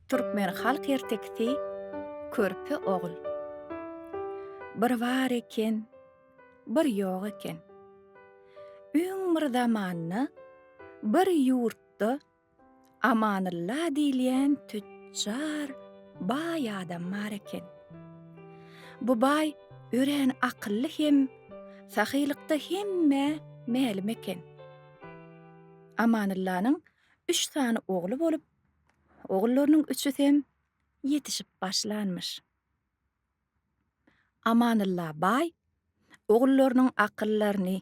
Türkmen halk ertekisi Körpe ogul. Bir bar eken, bir ýok eken. Öň bir zamanda bir ýurtda Amanylla diýilýän tütjar baý adam bar eken. Bu baý örän akylly hem sahylykda hemmä mälim eken. Amanyllanyň üç sany ogly bolup, Ogullarynyň üçüsem ýetişip başlanmyş. Amanylla baý ogullarynyň akyllaryny,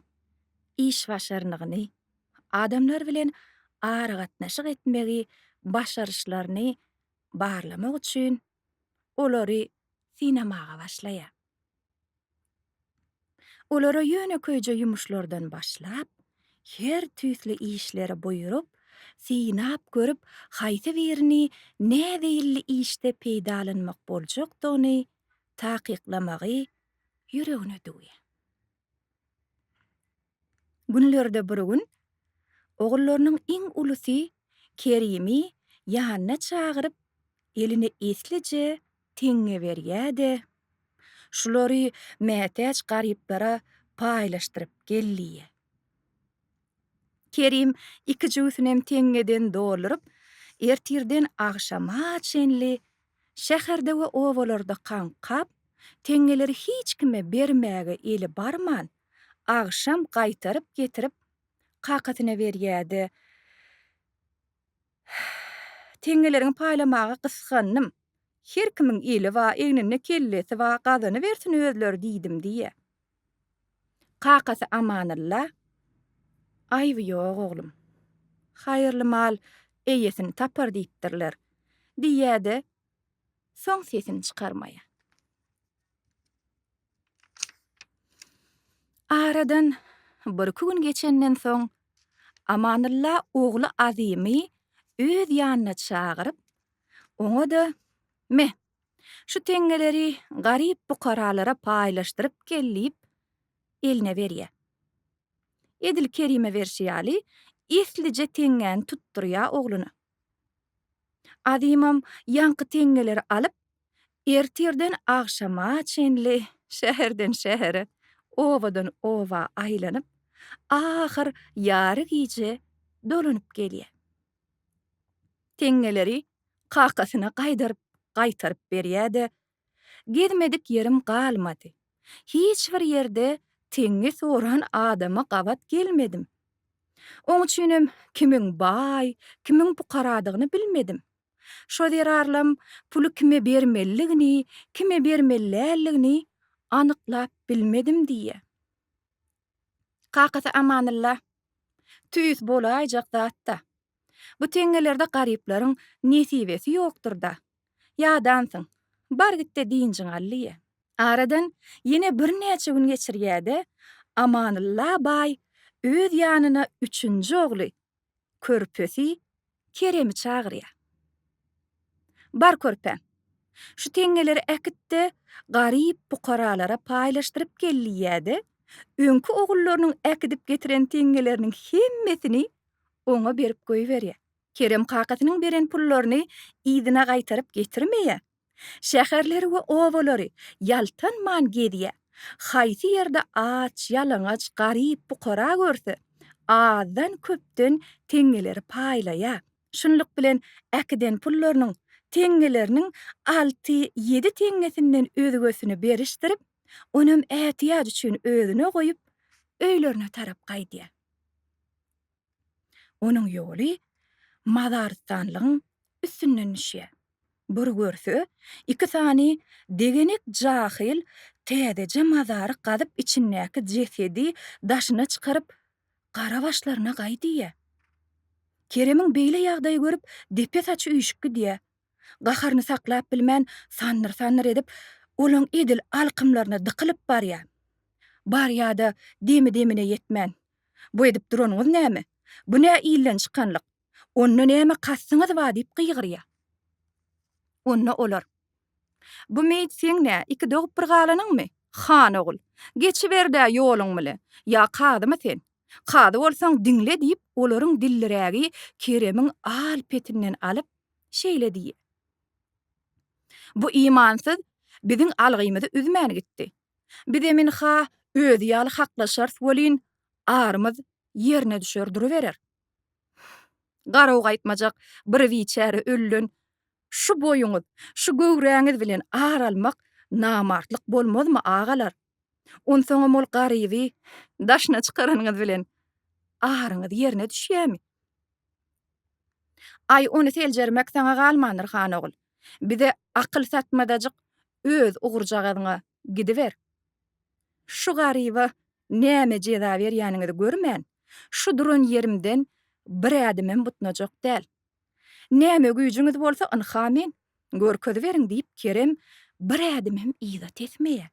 işbaşarnygyny, adamlar bilen aragatnaşyk etmegi başaryşlaryny barlamak üçin olary synamaga başlaýar. Olara ýönekeýje ýumuşlardan başlap, her tüýsli işleri buýrup, synap görüp, haýsy birini näzeýilli işde peýdalanmak boljakdygyny takyklamagy ýüregine düwýär. Günlerde bir gün ogullarynyň iň ulusy Kerimi ýanyna çagyryp, eline eslije teňňe berýär-de, Şulary mätäç garyplara paýlaşdyryp gel diýýär. Kerim iki jübüsinem teňňeden dolduryp, ertirden agşama çenli şäherde we obalarda kaňkap, teňňeleri hiç kime bermäge eli barman, Agşam gaýtaryp getirip kakasyna berýärdi. Teňňelerimi paýlamaga gysgandym. Her kimiň eli ba, egninde kellesi ba, gazanybersin özleri diýdim diýýär. Kakasy Amanylla, Aýby ýok oglum. Haýyrly mal eýesini tapar diýipdirler, diýýär-de, soň sesini çykarmaýar. Aradan birki gün geçenden soň Amanylla ogly Azymy öz ýanyna çagyryp, oňa-da, Me, şu teňňeleri garyp-bukaralara paýlaşdyryp gel diýip, eline berýär. Edil Kerime berşi ýaly, eslije teňňäni tutdurýar ogluna. Azymam ýaňky teňňeleri alyp, ertirden agşama çenli şäherden şähere, obadan oba aýlanyp, ahyr ýary gije dolanyp gelýär. Teňňeleri kakasyna gaýdaryp-gaýtaryp berýär-de, Gezmedik ýerim galmady. Hiç bir ýerde teňňe soran adama gabat gelmedim. Oň üçinem kimiň baý, kimiň pukaradygyny bilmedim. Şo zerarlam puly kime bermelidigini, kime bermeli däldigini anyklap bilmedim diýýär. Kakasy Amanylla, Tüýs bolaýjak zat-da. Bu teňňelerde garyplaryň nesibesi ýokdur-da. Ýadansyň. Bar git-de dynjyňy al diýýä. Aradan ýene birnäçe gün geçirýär-de, Amanylla baý öz ýanyna üçünji ogly, körpesi Keremi çagyrýar. Bar körpäm. Şu teňňeleri äkit-de, garyp pukaralara paýlaşdyryp gel diýýär-de, öňki ogullarynyň äkidip getiren teňňeleriniň hemmesini oňa berip goýberýär. Kerem kakasynyň beren pullaryny yzyna gaýtaryp getirmeýä. Şäherleri we obalary ýaltanman gezýä. Haýsy ýerde aç, ýalaňaç, garyp, pukara görse, azdan-köpden teňňeleri paýlaýa. Şunluk bilen äkiden pullarynyň teňňeleriniň alty-ýedi teňňesinden özgesini berişdirip, onam ätiýaç üçin özüne goýup, öýlerine tarap gaýdýa. Onuň ýoly mazarystanlygyň üstünden düşýär. Bir görse, iki sany degenek jahyl täzeje mazary gazyp içindäki jesedi daşyna çykaryp, gara başlaryna gaý diýýär. Keremiň beýle ýagdaýy görüp depe-saçy üýşüp gidýär. Gaharyny saklap bilmän, sandyr-sandyr edip, olaň edil alkymlaryna dykylyp barýar. Barýa-da, demi-demine ýetmän, Bu edip duranyňyz näme? Bu nä ilden çykanlyk? Onda näme kastyňyz bar? diýip gygyrýar. Onda olar, Bu meýit seň nä, iki dogup bir galanyňmy? Han ogul, geçiber-dä ýoluň bile! Ýa kazymy sen? Kazy bolsaň, diňle! diýip, olaryň dillirägi Keremiň al petinden alyp, şeýle diý. Bu imansyz biziň algymyzy üzmän gitdi. Bizem ynha özi ýaly haklaşarys welin, arymyz ýerine düşer duruberer. Garaw gaýtmajak bir biçäre ölüden şu boýuňyz, şu göwräňiz bilen ar almak namartlyk bolmazmy, agalar? Onsoňam ol garyby daşyna çykaranyňyz bilen aryňyz ýerine düşýärmi? Aý, ony seljermek saňa galmandyr, han ogul. Bize akyl satmadajyk öz ugurjagazyňa gidiber. Şu garyba näme jeza berýäniňizi görmän, şu duran ýerimden bir ädimem butnajak däl. Näme güýjüňiz bolsa, ynha men, görkeziberiň, diýip, Kerem bir ädim hem yza tesmeýä.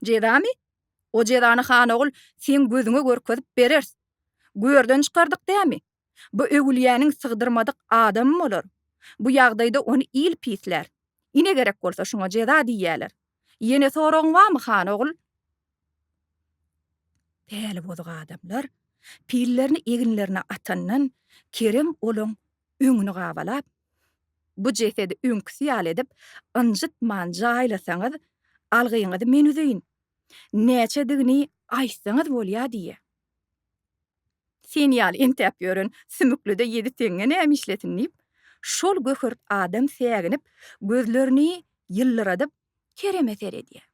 Jezamy? O jezany, Hanogul, seň gözüňe görkezip bereris. Görden çykardyk dämi? Bu Öwülýäniň sygdyrmadyk adamy bolar. Bu ýagdaýda ony il pislär. Ine gerek bolsa şuňa jeza diýýäler. Ýene soragyň barmy, han ogul? Päli bozuk adamlar pillerini eginlerine atandan Kerem olaň öňüni gabalap, Bu jesedi öňküsi ýaly edip, ynjytman jaýlasaňyz, algyňyzy men üzeýin. Näçedigini aýtsaňyz bolýa diýýä. Sen ýaly entäp ýören sümüklide ýedi teňňe näme işlesin diýip, şol göhert adam säginip, gözlerini ýyldyradyp, Kereme seredýär.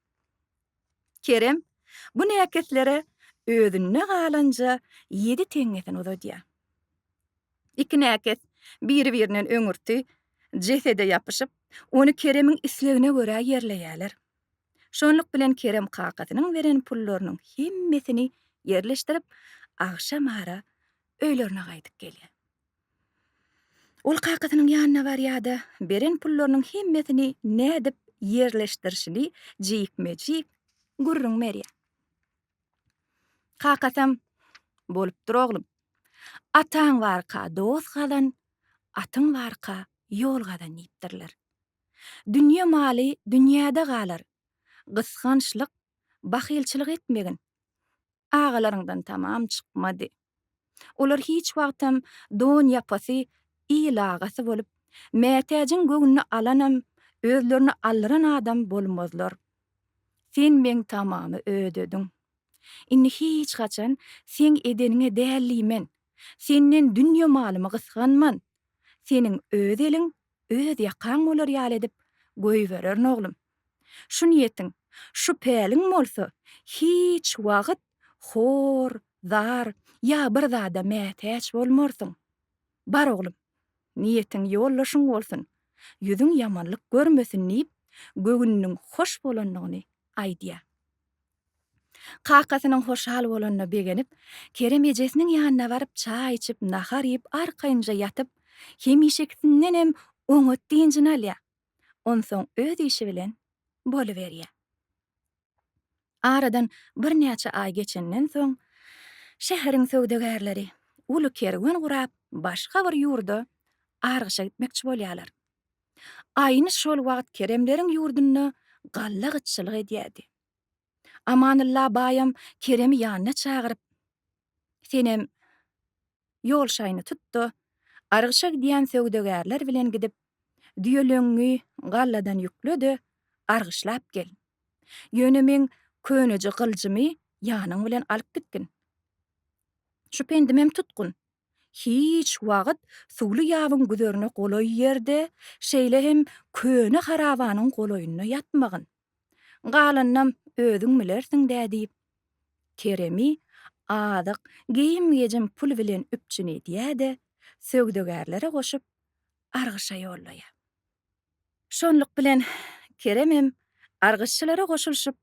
Kerem bu näkeslere özünde galanja ýedi teňňesini uzadýar. Iki näkes biri-birinden öňürti jesede ýapyşyp, ony Keremiň islegine görä ýerleýärler. Şonluk bilen Kerem kakasynyň beren pullarynyň hemmesini ýerleşdirip, agşam ara öýlerine gaýdyp gelýär. Ol kakasynyň ýanyna barýar-da, beren pullarynyň hemmesini nädip ýerleşdirişini jikme-jik gürrüň berýär. Kakasam, Bolupdyr, oglum. Ataň barka dost gazan, atyň barka ýol gazan diýipdirler. Dünýe maly dünýäde galar. Gysgançlyk, bahylçylyk etmegin agalaryňdan tamam çykmady. Olar hiç wagtam don ýapasy, il agasy bolup, mätäjiň göwnüni alanam, özlerini aldyran adam bolmazlar. Sen meň tamamy ödediň. Indi hiç haçan seň edeniňe däl diýmen. Senden dünýe malymy gysganman. Seniň öz eliň öz ýakaň bolar ýaly edip goýbererin oglum. Şu niýetiň, şu päliň bolsa hiç wagt hor, zar ýa bir zada mätäç bolmarsyň. Bar oglum, niýetiň ýoldaşyň bolsun, ýüzüň ýamanlyk görmesin diýip, göwnüniň hoş bolandygyny aýdýar. Kakasynyň hoşal bolanyna begenip, Kerem ejesiniň ýanyna baryp çaý içip, nahar iýip, arkaýynja ýatyp, hemişekisindenem oňat dynjyny alýar. Onsoň öz işi bilen boluberýär. Aradan birnäçe aý geçenden soň, şäheriň söwdagärleri uly kerwen gurap, başga bir ýurda argyşa gitmekçi bolýarlar. Aýny şol wagt Keremleriň ýurdunda galla gytçylyk edýärdi. Amanylla baýam Keremi ýanyna çagyryp, Senem ýol şaýyny tut-da, Argyşa gidýän söwdagärler bilen gidip, düýeleňňi galladan ýükle-de, argyşlap gel. Ýöne meň köneje gyljymy ýanyň bilen alyp gitgin. Şu pendimem tutgun. Hiç wagt suwly ýabyň güzerine golaý ýerde, şeýle hem köne harabanyň golaýynda ýatmagyn. Galanynam özüň bilersiň-dä diýip, Keremi azyk, geýim-gejim, pul bilen üpjün edýär-de, söwdagärlere goşup, argyşa ýollaýar. Şonluk bilen Kerem hem argyşçylara goşulyşyp,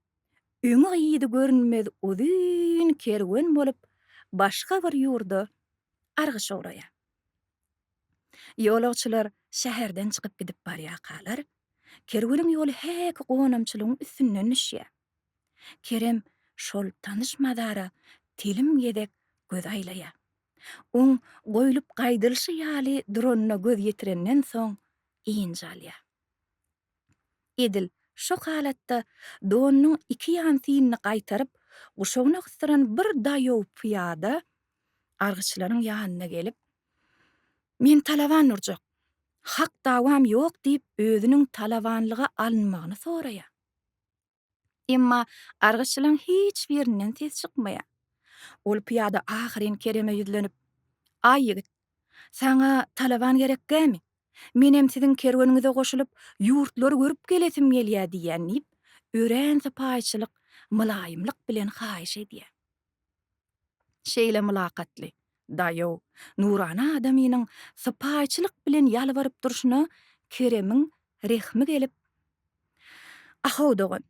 öňi-yzy görünmez uzyn kerwen bolup, başga bir ýurda argyşa ugraýar. Ýolagçylar şäherden çykyp gidip barýarkalar, kerweniň ýoly häki gonamçylygyň üstünden düşýär. Kerem şol tanyş mazara telim gezek göz aýlaýar. Oň goýlup gaýdylyşy ýaly duranyna göz ýetirenden soň ynjalýar. Edil şo halatda donunyň iki ýansyny gaýtaryp, guşagyna gysdyran bir daýow pyýada argyçylaryň ýanyna gelip, Men talaban urjak. Hak dawam ýok diýip özüniň talabanlyga alynmagyny soraýar. Emma gargyşçylaryň hiç birinden ses çykmaýar. Ol pyýada ahyryn Kereme ýüzlenip, Aý ýigit, saňa talaban gerek dämi? Menem siziň kerweniňize goşulyp, ýurtlary görüp gelesim gelýär diýýän diýip, örän sypaýyçylyk, mylaýymlyk bilen haýyş edýär. Şeýle mylakatly, daýaw, nurana adamynyň sypaýyçylyk bilen ýalbaryp durşuna Keremiň rehmi gelip, A-how, dogan,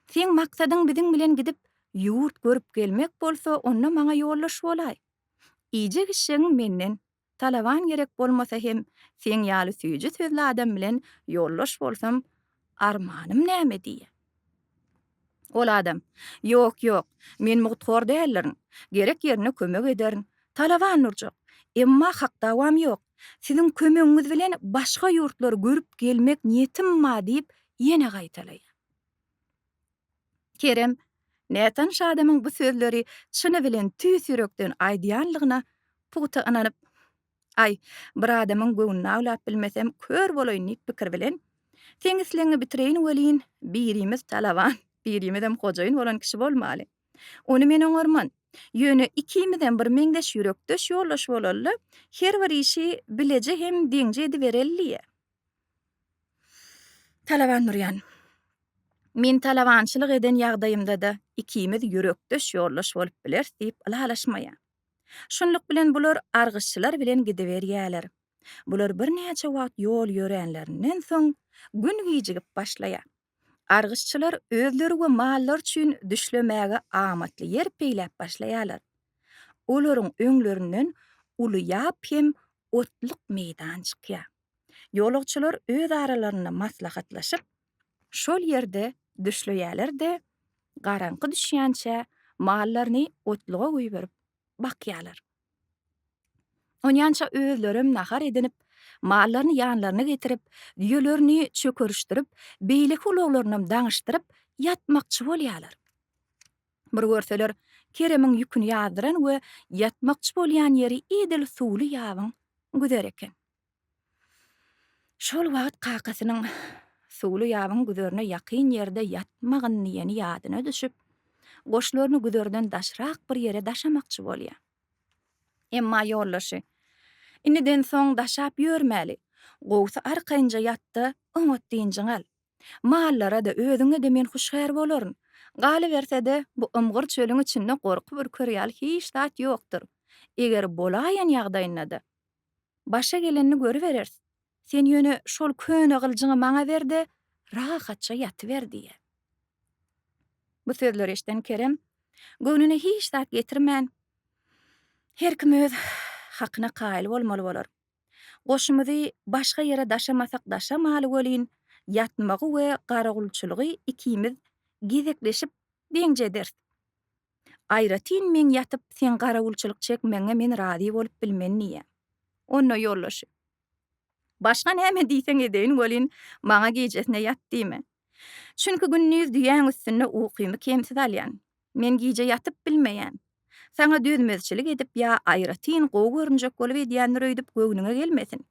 seň maksadyň biziň bilen gidip, ýurt görüp gelmek bolsa, onda maňa ýoldaş bolaý. Iýjek-içjegiň menden, Talaban gerek bolmasa hem seň ýaly süýji sözli adam bilen ýoldaş bolsam armanym näme diýýä. Ol adam, Ýok, ýok, men mugthor däldirin, gerek ýerine kömek ederin, Talaban durjak, emma hak dawam ýok, siziň kömegiňiz bilen başga ýurtlary görüp gelmek niýetim bar diýip ýene gaýtalaýar. Kerem, nätanyş adamyň bu sözleri çyny bilen tüýs ýürekden aýdýanlygyna pugta ynanyp, Aý, bir adamyň göwnüni awlap bilmesem, kör bolaýyn diýip pikir bilen, Seňisligiňi bitireýin welin, birimiz talaban, birimizem hojaýyn bolan kişi bolmaly. Ony men oňarman. Ýöne ikimizem bir meňzeş ýürekdeş ýoldaş bolaly-da, her bir işi bileje hem deňje edibereli diýýä. Talaban Nurjan. Men talabançylyk eden ýagdaýymda-da ikimiz ýürekdeş ýoldaş bolup bileris diýip ylalaşmaýar. Şunluk bilen bular argyşçylar bilen gidiberýärler. Bular birnäçe wagt ýol ýöränlerinden soň, gün gijigip başlaýar. Gargyşçylar özleri we mallary üçin düşlemäge amatly ýer peýläp başlaýarlar. Olaryň öňlerinden uly ýap hem otluk meýdan çykýar. Ýolagçylar öz aralarynda maslahatlaşyp, şol ýerde düşleýärler-de, garaňky düşýänçä mallaryny otluga goýberip bakýarlar. Onýança özlerem nahar edinip, mallaryny ýanlaryna getirip, düýelerini çökerişdirip, beýleki ulaglarynam daňyşdyryp, ýatmakçy bolýarlar. Bir görseler, Keremiň ýüküni ýazdyran we ýatmakçy bolýan ýeri edil suwly ýabyň güzeri eken. Şol wagt kakasynyň suwly ýabyň güzerine ýakyn ýerde ýatmagyn diýeni ýadyna düşüp, goşlaryny güzerden daşrak bir ýere daşamakçy bolýar. Emma ýoldaşy, Indiden soň daşap ýörmäli. Gowsy arkaýynja ýat-da, oňat dynjyňy al. Mallara-da, özüňe-de men huşgär bolaryn. Galyberse-de, bu ymgyr çölüň içinde gorkup ürker ýaly hiç zat ýokdur. Eger bolaýan ýagdaýynda-da, Başa gelenini görübereris. Sen ýöne şol köne gyljyňy maňa ber-de, rahatça ýatyber, diýýär. Bu sözleri eşiden Kerem, göwnüne hiç zat getirmän, Her kim öz hakyna kaýyl bolmaly bolar. Goşumyzy başga ýere daşamasak daşamaly welin, ýatmagy we garawulçylygy ikimiz gezekleşip deňje ederis. Aýratyn meň ýatyp, seň garawulçylyk çekmegiňe men razy bolup bilmen diýýä. Onda ýoldaşy. Başga näme diýseň edeýin welin, maňa gijesine ýat diýme. Çünki gündiz düýäň üstünde ukymy kemsiz alýan. Men gije ýatyp bilmeýän. Saňa dözmezçilik edip ýa aýratyn gowy görünjek bolup edýändir öýdüp göwnüňe gelmesin.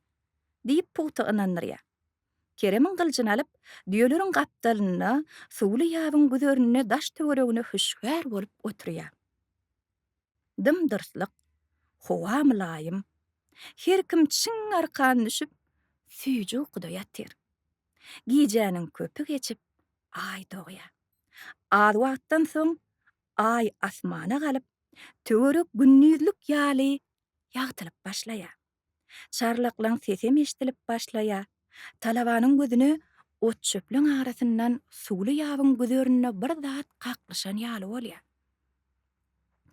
Diýip pugta ynandyrýa. Keremiň gylyjyny alyp, düýeleriň gapdalynda, suwly ýabyň güzerinde daş-töweregine hüşgär bolup oturýar. Dym-dyrslyk, howa mylaýym. Her kim çiň arkan düşüp, süýji ukuda ýatyr. Gijäniň köpi geçip, Aý dogýar. Az wagtdan soň Aý asmana galyp, töwerek gündizlik ýaly ýagtylyp başlaýar. Çarlaklaň sesem eşdilip başlaýa. Talabanyň gözüne ot-çöplüň arasyndan suwly ýabyň güzerinde bir zat kaklyşan ýaly bolýa.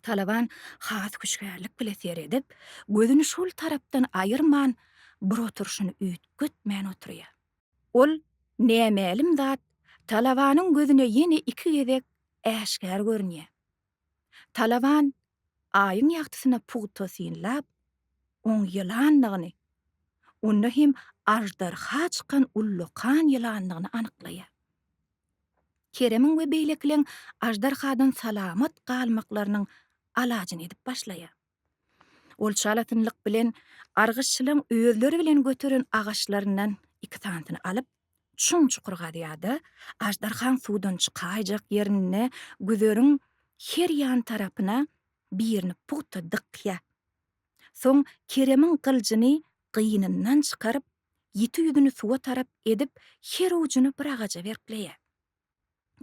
Talaban has hüşgärlik bile seredip, gözüni şol tarapdan aýyrman, bir oturyşyny üýtgetmän oturýa. Ol nämälim zat Talabanyň gözüne ýene iki gezek äşgär görünýä. Talaban Aýyň ýagtysyna pugta synlap, oň ýylandygyny, onda hem aždarha çykan ullakan ýylandygyny anyklaýar. Keremiň we beýlekileň aždarhadan salamat galmaklarynyň alajyny edip başlaýar. Ol çalasynlyk bilen argyçlaryň özleri bilen göteren agaçlaryndan iki sanysyny alyp, çuň çukur gazýar-da, aždarhaň suwdan çykaýjak ýerinde güzeriň her ýan tarapyna birini pugta dykýar. Soň Keremiň gyljyny gynyndan çykaryp, ýiti ýüzüni suwa tarap edip, her ujyny bir agaja berkleýär.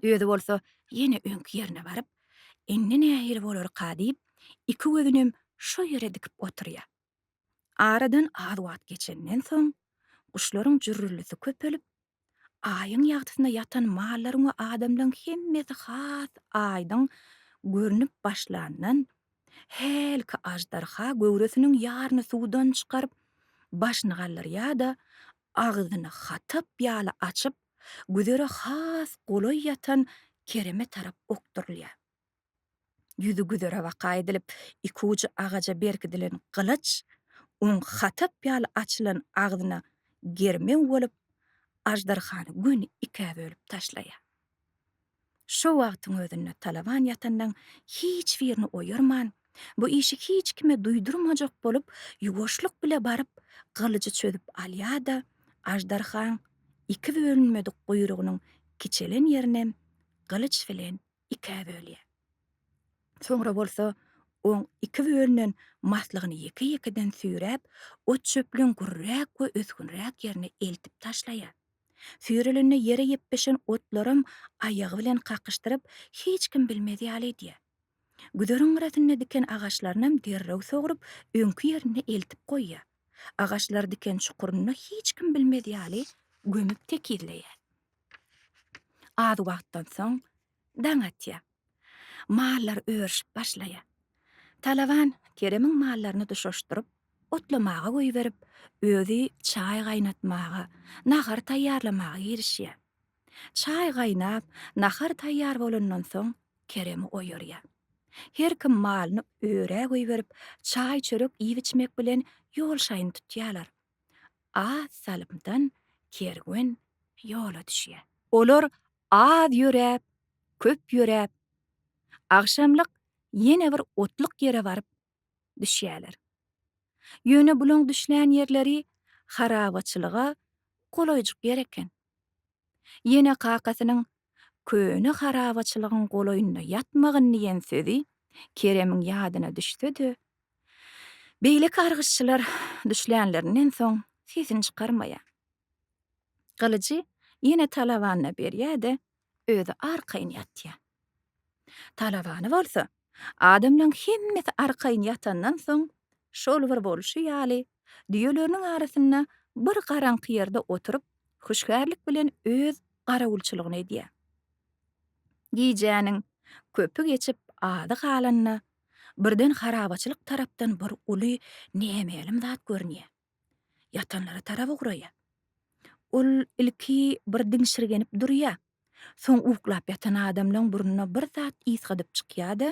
Özi bolsa ýene öňki ýerine baryp, Indi nähili bolarka diýip, iki gözünem şo ýere dikip oturýar. Aradan az wagt geçenden soň, guşlaryň jürrüldisi köpelip, Aýyň ýagtysynda ýatan mallaryň we adamlaryň hemmesi has aýdyň görnüp başlandan, hälki aždarha göwresiniň ýaryny suwdan çykaryp, başyny galdyrýar-da, agzyny hatap ýaly açyp, güzere has golaý ýatan kereme tarap okdurylýar. Ýüzi güzere baka edilip, iki ujy agaja berkidilen gylyç oň hatap ýaly açylan agzyna germew bolup, aždarhany göni ikä bölüp taşlaýar. Şo wagtyň özünde Talaban ýatanlaň hiç birini oýarman, bu işi hiç kime duýdurmajak bolup, ýuwaşlyk bile baryp, gylyjy çözüp alýar-da, aždarhaň iki bölünmedik guýrugynyň kiçelen ýerinem gylyç bilen ikä bölýär. Soňra bolsa oň iki bölünen maslygyny ýeke-ýekeden süýräp, ot-çöplüň gürräk we ösgünräk ýerine eltip taşlaýar. Süýrülende ýere ýepbeşen otlaram aýagy bilen kakyşdyryp, hiç kim bilmez ýaly edýär. Güzeriň gyrasynda diken agaçlarynam derrew sogrup, öňki ýerinde eltip goýýar. Agaçlary diken çukurynda hiç kim bilmez ýaly gömüp tekizleýär. Az wagtdan soň Daň atýar. Mallar örüşip başlaýar. Talaban Keremiň mallaryny duşuşdyryp, otlamaga goýberip, özi çaý gaýnatmaga, nahar taýýarlamaga girişýär. Çaý gaýnap, nahar taýýar bolandan soň Keremi oýarýar. Her kim malyny örä goýberip, çaý-çörek iýip-içmek bilen ýolşaýyn tutýarlar. Az salymdan kerwen ýola düşýär. Olar Az ýöräp, köp ýöräp, agşamlyk ýene bir otluk ýere baryp düşýärler. Ýöne bulaň düşlän ýerleri harabaçylyga golaýjyk ýer eken. Ýene kakasynyň Köne harabaçylygyň golaýynda ýatmagyn diýen sözi Keremiň ýadyna düşse-de, beýleki argyşçylar düşlänlerinden soň sesini çykarmaýar. Gylyjy ýene talabanyna berýär-de, özi arkaýyn ýatýar. Talabany bolsa, adamlaryň hemmesi arkaýyn ýatandan soň, şol bir bolşy ýaly, düýeleriniň arasynda bir garaňky ýerde oturyp, hüşgärlik bilen öz garawulçylygyny edýär. Gijäniň köpi geçip, azy galanda, birden harabaçylyk tarapdan bir uly nämälim zat görünýär. Ýatanlara tarap ugraýar. Ol ilki bir diňşirgenip durýar. Soň uklap ýatan adamlaň burnuna bir zat ysgadyp çykýar-da,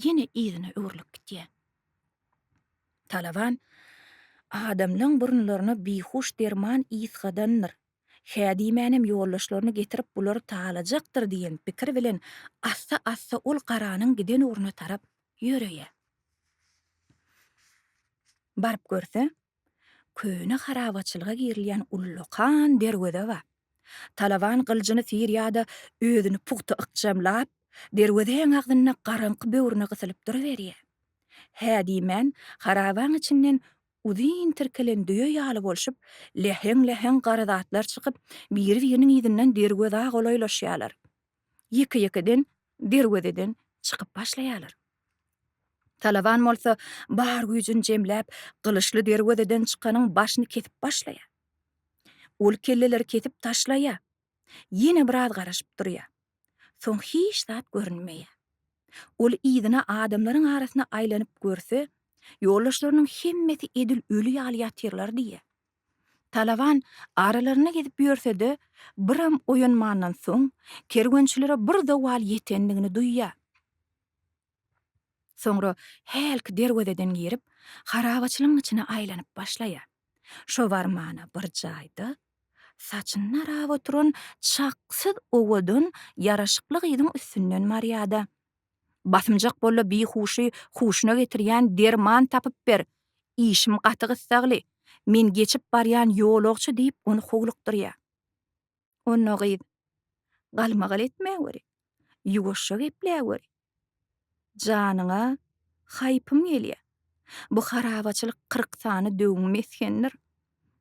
ýene yzyna öwrülip gidýär. Talaban adamlaň burunlaryna bihuş derman ysgadandyr Hä diýmänem ýoldaşlaryny getirip bulary talajakdyr diýen pikir bilen assa-assa ol garanyň giden ugruna tarap ýöreýär. Baryp görse, köne harabaçylyga girilýän ullakan derweze bar. Talaban gyljyny syr ýa-da özüni pugta ykjamlap, derwezeň agzynda garaňky böwrüne gysylyp duruberýär. Hä diýmän harabaň içinden Uzyn tirkelen düýe ýaly bolşup, läheň-läheň gara zatlar çykyp, biri-biriniň yzyndan derwezä golaýlaşýarlar. Ýeke-ýekeden derwezeden çykyp başlaýarlar. Talaban bolsa bar güýjüni jemläp, gylyçly derwezeden çykanyň başyny kesip başlaýar. Ol kelleleri kesip taşlaýar. Ýene biraz garaşyp durýar. Soň hiç zat görünmeýär. Ol yzyna adamlaryň arasyna aýlanyp görse, ýoldaşlarynyň hemmesi edil öli ýaly ýatyrlar diýýär. Talaban aralarynda gezip ýörse-de, biram oýanmandan soň, kerwençilere bir zowal ýetendigini duýýar. Soňra hälki derwezeden girip, harabaçylygyň içine aýlanyp başlaýar. Şo barmana bir jaýda saçyny narap oturan çaksyz owadan ýaraşykly gyzyň üstünden barýar-da. Basymjak bolla bihuşy huşuna getirýän derman tapyp ber, işim gaty gyssagly, men geçip barýan ýolagçy diýip ony howlukdyrýar. Onda gyz, Galmagal etme weli, ýuwaşja geple weli. Janyňa haýpym gelýä. Bu harabaçylyk kyrk sany döwüň mesgendir.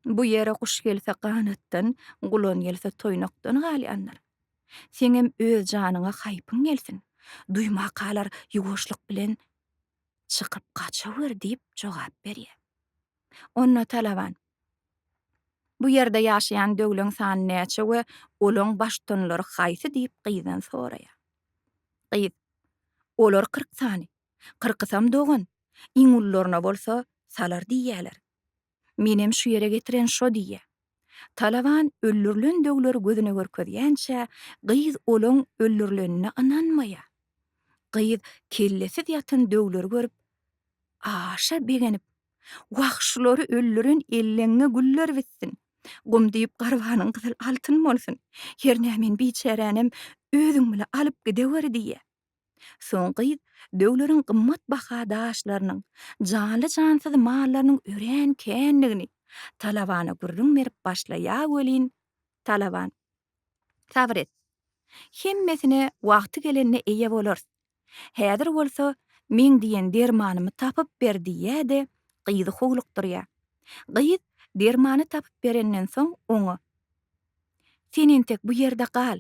Bu ýere guş gelse ganatdan, gulan gelse toýnakdan galýandyr. Seňem öz janyňa haýpyň gelsin. Duýmakalar ýuwaşlyk bilen çykyp gaçawer diýip jogap berýä. Onda talaban. Bu ýerde ýaşaýan döwleň sany näçe we olaň baştutanlary haýsy diýip gyzdan soraýar. Gyz, Olar kyrk sany. Kyrkysam dogan. Iň ulularyna bolsa Salar diýýäler. Menem şu ýere getiren şo diýýär. Talaban öldürilendögleri gözüne görkezýänçä, gyz olaň öldürilenine ynanmaýar. Gyz kellesiz ýatan dögleri görüp, aşa begenip, Wah, şulary öldüren elleňňe güller bitsin! Gum diýip garbanyň gyzyl altyn bolsun! Hernä men biçäränem özüň bile alyp gidewer diýýär. Soň gyz döwleriň gymmat baha daşlarynyň, janly-jansyz mallarynyň örän kändigini Talabana gürrüň berip başlaýa welin, Talaban, Sabyr et. Hemmesine wagty gelende eýe bolarys. Häzir bolsa meň diýen dermanymy tapyp ber diýýä-de, gyzy howlukdyrýa. Gyz dermany tapyp berenden soň oňa, Sen entek bu ýerde gal.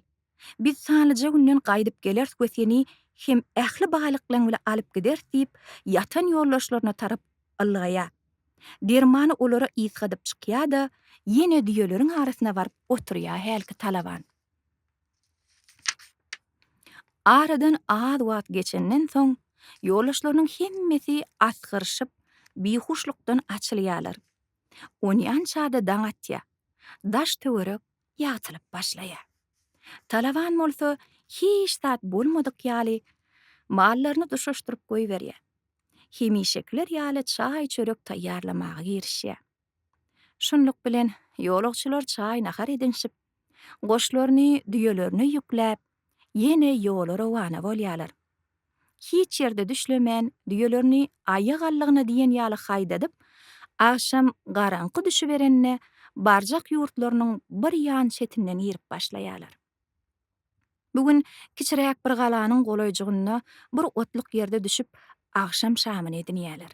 Biz sanlyja günden gaýdyp geleris we seni hem ähli baýlyklaryň bilen alyp gideris diýip, ýatan ýoldaşlaryna tarap ylgaýar. Dermany olara ysgadyp çykýar-da, ýene düýeleriň arasyna baryp oturýar hälki talaban. Aradan az wagt geçenden soň, ýoldaşlarynyň hemmesi asgyryşyp, bihuşlukdan açylýarlar. Onýança-da daň atýar. Daş-töwerek ýagtylyp başlaýar. Talaban bolsa hiç zat bolmadyk ýaly mallaryny duşaşdyryp goýberýär. Hemişekiler ýaly çaý-çörek taýýarlamaga girişýär. Şunluk bilen, ýolagçylar çaý-nahar edinişip, Goşlaryny düýelerine ýükläp, ýene ýola rowana bolýarlar. Hiç ýerde düşlemän, düýelerini aýa gallygyna diýen ýaly haýdadyp, agşam garaňky düşüberende barjak ýurtlarynyň bir ýan çetinden girip başlaýarlar. Bu gün kiçiräk bir galanyň golaýjygynda bir otluk ýerde düşüp, agşam şamyny edinýärler.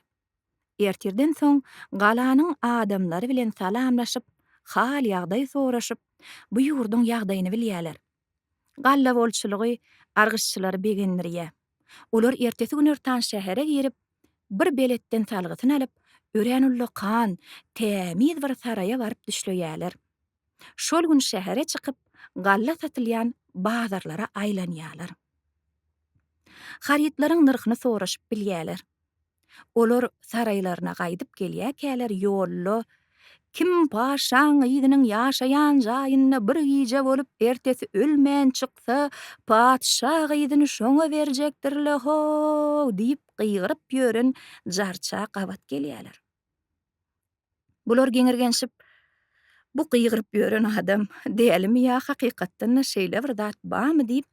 Ertirden soň galanyň adamlary bilen salamlaşyp, hal-ýagdaý soraşyp, bu ýurduň ýagdaýyny bilýärler. Galla bolçulygy argyşçylary begendirýär. Olar ertesi günortan şähere girip, bir beletden salgysyny alyp, örän ullakan, tämiz bir saraýa baryp düşleýärler. şol gün şähere çykyp, galla satylýan bazarlara aýlanýarlar. Harytlaryň nyrhyny soraşyp bilýärler. Olar saraýlaryna gaýdyp gelýärkäler ýolda Kim paşaň gyzynyň ýaşaýan jaýynda bir gije bolup, ertesi ölmän çyksa, patyşa gyzyny şoňa berjekdir-le-how! diýip gygyryp ýören jarça gabat gelýärler. Bular geňirgenşip, Bu gygyryp ýören adam dälimi ýa hakykatdan-da şeýle bir zat barmy diýip,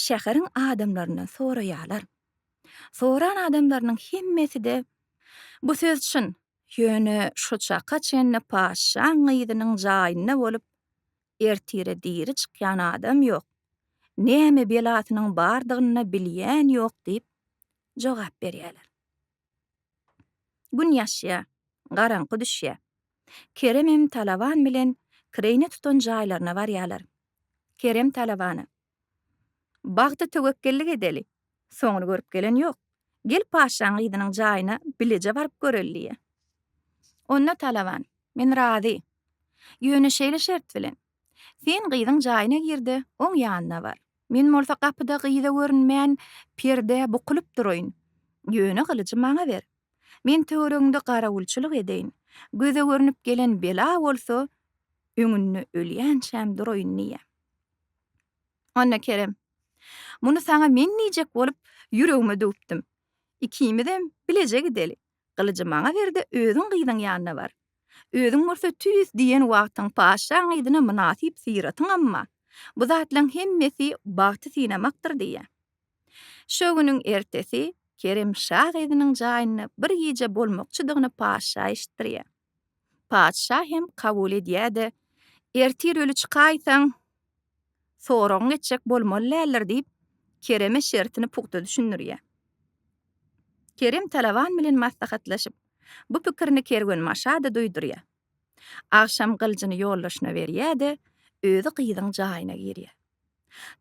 şäheriň adamlaryndan soraýarlar. Soran adamlarynyň hemmesi-de, Bu söz çyn, ýöne şu çaka çenli patyşaň gyzynyň jaýynda bolup, ertire diri çykýan adam ýok, näme belasynyň bardygyny-da bilýän ýok diýip jogap berýärler. Gün ýaşýar. Garaňky düşýär. Keremem Talaban bilen kireýne tutan jaýlaryna barýarlar. Kerem Talabana. Bagta töwekgellik edeli. Soňuny görüp gelen ýok. Gel paşşaň gyzynyň jaýyna bileje baryp göreli diýýär. Onda Talaban. Men razy. Ýöne şeýle şert bilen. Sen gyzyň jaýyna gir-de, oň ýanyna bar. Men bolsa gapyda gyza görünmän, perdä bukulyp duraýyn. Ýöne gylyjy maňa ber. Men töweregiňde garawulçylyk edeýin. Göze görnüp gelen bela bolsa, öňünde ölýänçäm duraýyn diýýär. Onda Kerem, Muny saňa men diýjek bolup, ýüregime düwüpdim. Ikimizem bileje gideli. Gylyjy maňa ber-de, özüň gyzyň ýanyna bar. Özüň bolsa tüýs diýen wagtyň patyşaň yzyna mynasyp syratyň amma, bu zatlaryň hemmesi bagty synamakdyr diýýär. Şo günüň ertesi Kerem şa gyzynyň jaýynda bir gije bolmakçydygyny patyşa eşitdirýär. Patyşa hem kabul edýär-de, Ertir öli çykaýsaň, soragyňy etjek bolmaly däldir diýip, Kereme şertini pugta düşündirýär. Kerem talaban bilen maslahatlaşyp, bu pikirini kerwenbaşa-da duýdurýar. Agşam gylyjyny ýoldaşyna berýär-de, özi gyzyň jaýyna girýär.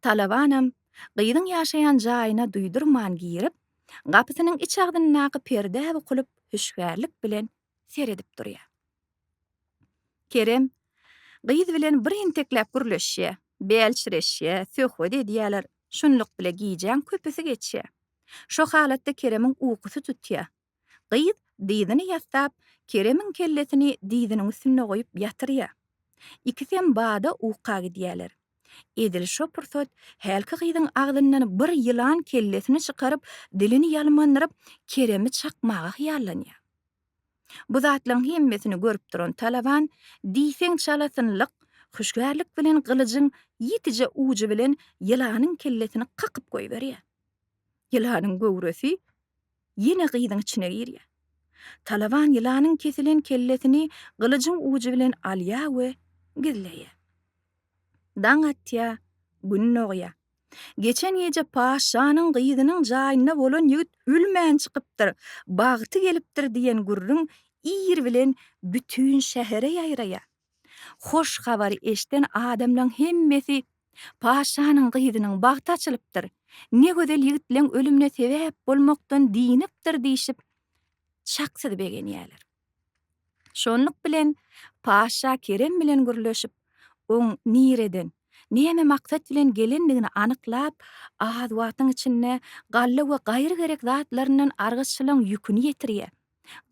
Talabanam gyzyň ýaşaýan jaýyna duýdurman girip, gapysynyň iç agzyndaky perdä bukulyp, hüşgärlik bilen seredip durýar. Kerem gyz bilen bir entekläp gürleşýär, bälçireşýär, söhbet edýärler, şunluk bile gijäň köpüsi geçýär. Şo halatda Keremiň ukusy tutýar. Gyz dyzyny ýassap, Keremiň kellesini dyzynyň üstünde goýup ýatyrýar. Ikisem bada uka gidýärler. Edil şo pursat hälki gyzyň agzyndan bir ýylan kellesini çykaryp, dilini ýalmandyryp, Keremi çakmaga hyýallanýar. Bu zatlaryň hemmesini görüp duran Talaban diýseň çalasynlyk, hüşgärlik bilen gylyjyň ýitije ujy bilen ýylanyň kellesini kakyp goýberýär. Ýylanyň göwresi Ýene gyzyň içine girýär. Talaban ýylanyň kesilen kellesini gylyjyň ujy bilen alýar we gizleýär. Daň atýar, Gün dogýar. Geçen gije paşşanyň gyzynyň jaýynda bolan ýigit ölmän çykypdyr, bagty gelipdir diýen gürrüň ir bilen bütin şähere ýaýraýar. Hoş habary eşden adamlaň hemmesi Paşanyň gyzynyň bagty açylypdyr, ne gözel ýigitleň ölümine sebäp bolmakdan dynipdir diýşip çaksyz begenýärler. Şonluk bilen Paşa Kerem bilen gürleşip, oň nireden, näme maksat bilen gelendigini anyklap, az wagtyň içinde galla we gaýry gerek zatlaryndan argyçylaň ýüküni ýetirýär.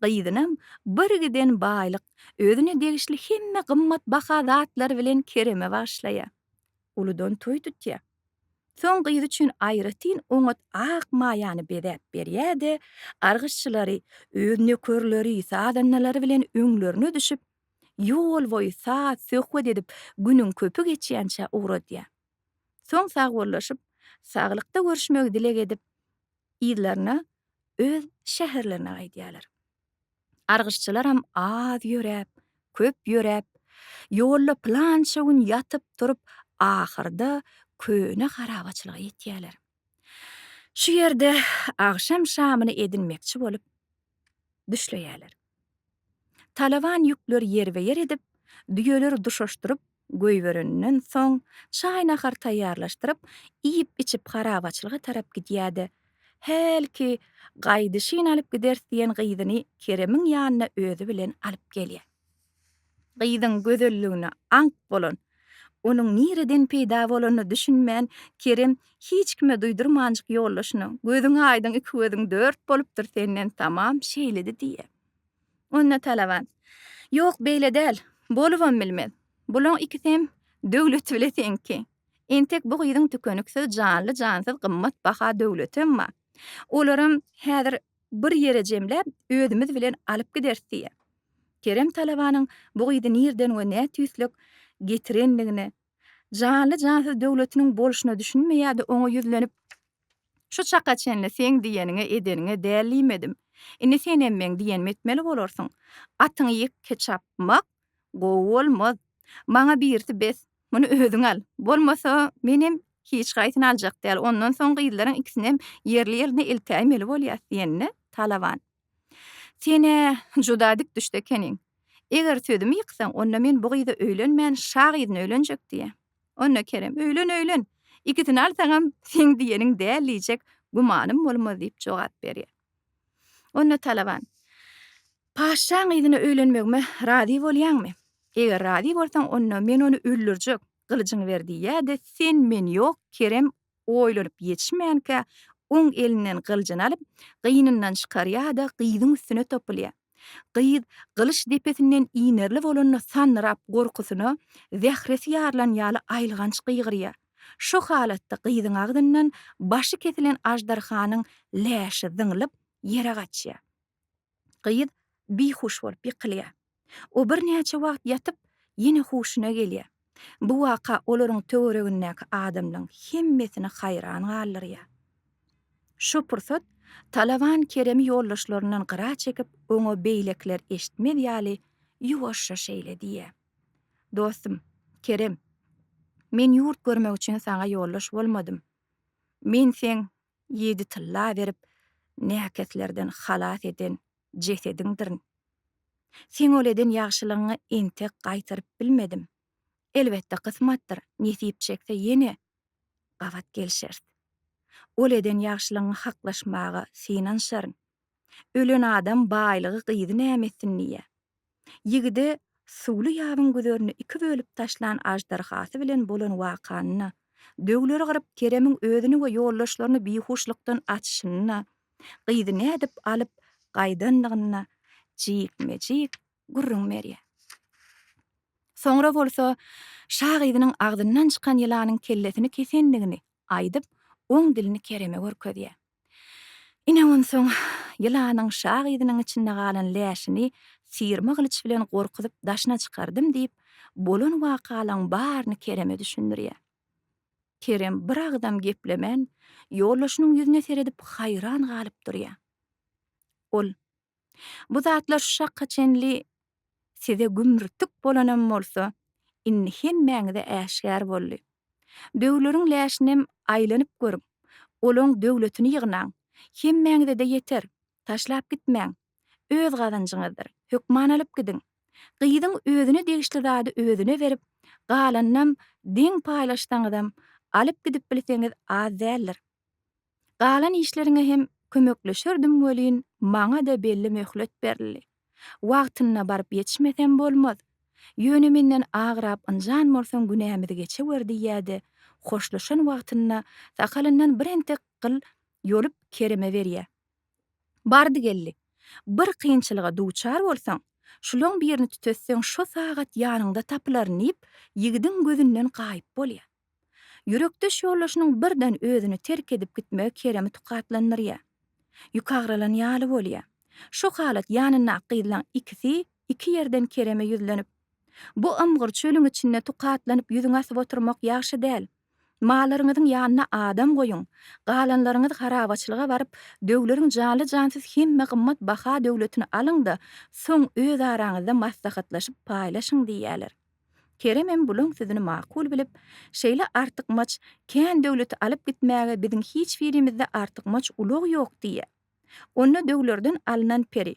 Gyzynam birgiden baýlyk, özüne degişli hemme gymmat baha zatlar bilen Kereme bagyşlaýar. Uludan toý tutýar. Soň gyzy üçin aýratyn oňat ak maýany bezäp berýär-de, gargyşçylary, öz nökerleri, sazandalary bilen öňlerine düşüp, ýol boýy saz, söhbet edip, günüň köpi geçýänçä ugradýar. Soň sagbollaşyp, saglykda görüşmegi dileg edip, yzlaryna öz şäherlerine gaýdýarlar. Argyşçylaram az ýöräp, köp ýöräp, ýolda pylança gün ýatyp-turup, ahyrda köne harabaçylyga ýetýärler. Şu ýerde agşam şamyny edinmekçi bolup, düşleýärler. Talaban ýükleri ýerbe-ýer edip, düýeleri duşaşdyryp goýbereninden soň, çaý-nahar taýýarlaşdyryp, iýip-içip harabaçylyga tarap gidýär-de, hälki gaýdyşyn alyp gideris diýen gyzyny Keremiň ýanyna özi bilen alyp gelýär. Gyzyň gözelligine aňk bolan, onuň nireden peýda bolanyna düşünmän Kerem hiç kime duýdurmanjyk ýoldaşyna, Gözüň aýdyň iki gözüň dört bolupdyr senden tamam şeýledi diýýär. Onda Talaban, Ýok beýle däl, bolubam bilmez. Bulaň ikisem döwleti bile teňki. Entek bu gyzyň tükeniksiz janly-jansyz gymmat baha döwletem bar. Olaram häzir Bir ýere jemläp, özümiz bilen alyp gideris diýýär. Kerem talabanyň bu gyzy nirden we nätüýslük getirendigine, janly-jansyz döwletiniň bolşuna düşünmeýär-de, oňa ýüzlenip, Şu çaka çenli seň diýeniňe, edeniňe däl diýmedim. Indi senem meň diýenimi etmeli bolarsyň. Atyňy ýekke çapmak gowy bolmaz. Maňa birisi bes, Muny özüň al. Bolmasa, menem hiç haýsyny aljak däl. Ondan soň gyzlaryň ikisinem ýerli-ýerine eltäýmeli bolýas diýenine Talaban. Sen-ä juda dik düşde ekeniň. Eger sözümi ýyksaň, onda men bu gyza öýlenmän, şa gyzyna öýlenjek diýýän. Onda Kerem, Öýlen, öýlen. Ikisini alsaňam seň diýeniň däl diýjek gümanym bolmaz diýip jogap berýär. Onda Talaban, Paşşaň yzyna öýlenmegime razy bolýaňmy? Eger razy bolsaň, onda men ony öldürjek, gylyjyňy ber diýýär-de, sen men ýok, Kerem oýlanyp ýetişmänkä, oň elinden gylyjyny alyp, gynyndan çykarýar-da, gyzyň üstüne topulýar. Gyz gylyç depesinden inerli bolanda sandyrap gorkusyna zähresi ýarylan ýaly aýylganç gygyrýar. Şo halatda gyzyň agzyndan başy kesilen aždarhanyň läşi zyňlyp, ýere gaçýar. Gyz bihuş bolup ýykylýar. O birnäçe wagt ýatyp, ýene huşuna gelýär. Bu waka olaryň töweregindäki adamlaň hemmesini haýran galdyrýar. Şo pursat Talaban Keremi ýoldaşlaryndan gyra çekip, oňa beýlekiler eşitmez ýaly ýuwaşja şeýle diýýär. Dostum, Kerem, men ýurt görmek üçin saňa ýoldaş bolmadym. Men seň ýedi tylla berip, näkeslerden halas eden jesediňdirin. Seň ol eden ýagşylygyňy entek gaýtaryp bilmedim. Elbetde, kysmatdyr, nesip çekse ýene gabat gelişeris. Ol eden ýagşylygyňy haklaşmaga synanyşaryn. Ölen adam baýlygy gyzy näme etsin diýýä. Ýigide Suwly ýabyň güzerini iki bölüp taşlan aždarhasy bilen bolan wakanyna, döwleri gyryp Keremiň özüni we ýoldaşlaryny bihuşlykdan açyşynyna, gyzy nädip alyp gaýdandygyna jikme-jik gürrüň berýär. Soňra bolsa Şa gyzynyň agzyndan çykan ýylanyň kellesini kesendigini aýdyp, oň dilini Kereme görkezýär. Ine onsoň, ýylanyň şa gyzynyň içinde galan läşini syýrma gylyç bilen gorkuzyp daşyna çykardym diýip, bolan wakalaň baryny Kereme düşündirýär. Kerem bir agzam geplemän, ýoldaşynyň ýüzüne seredip haýran galyp durýar. Ol Bu zatlar şu çaka çenli size gümrtik bolanam bolsa, indi hemmäňize äşgär boldy. Döwleriň läşinem aýlanyp görüň, olaň döwletini ýygnaň, hemmäňize-de ýeter, taşlap gitmäň, öz gazanjyňyzdyr, hökman alyp gidiň. Gyzyň özüne degişli zady özüne berip, galanynam deň paýlaşsaňyzam, alyp gidip bilseňiz az däldir. Galan işleriňe hem kömekleşerdim welin, maňa-da belli möhlet berildi. Wagtynda baryp ýetişmesem bolmaz. Ýöne menden agrap ynjan bolsaň günämizi geçewer diýýä-de, hoşlaşan wagtynda sakalyndan bir entek gyl ýolup Kerime berýä. Bardy-geldi. Bir kynçylyga duçar bolsaň, şulaň birini tütetseň şo sagat ýanyňda tapylaryn diýip, ýigidiň gözünden gaýyp bolýar. Ýürekdeş ýoldaşynyň birden özüni terk edip gitmegi Keremi tukatlandyrýar. Ýüki agralan ýaly bolýar. Şu halat ýanyndaky gyzlaň ikisi iki ýerden Kereme ýüzlenip, Bu ymgyr çölüň içinde tukatlanyp ýüzüňi asyp oturmak ýagşy däl. Mallaryňyzyň ýanyna adam goýuň. Galanlaryňyz harabaçylyga baryp, döwleriň janly-jansyz hemme gymmat baha-döwletini alyň-da, soň özaraňyzda maslahatlaşyp paýlaşyň diýýärler. Keremem bulaň sözüni makul bilip, Şeýle artykmaç kän döwleti alyp gitmäge biziň hiç birimizde artykmaç ulag ýok diýýär. Onda döwlerden alnan peri.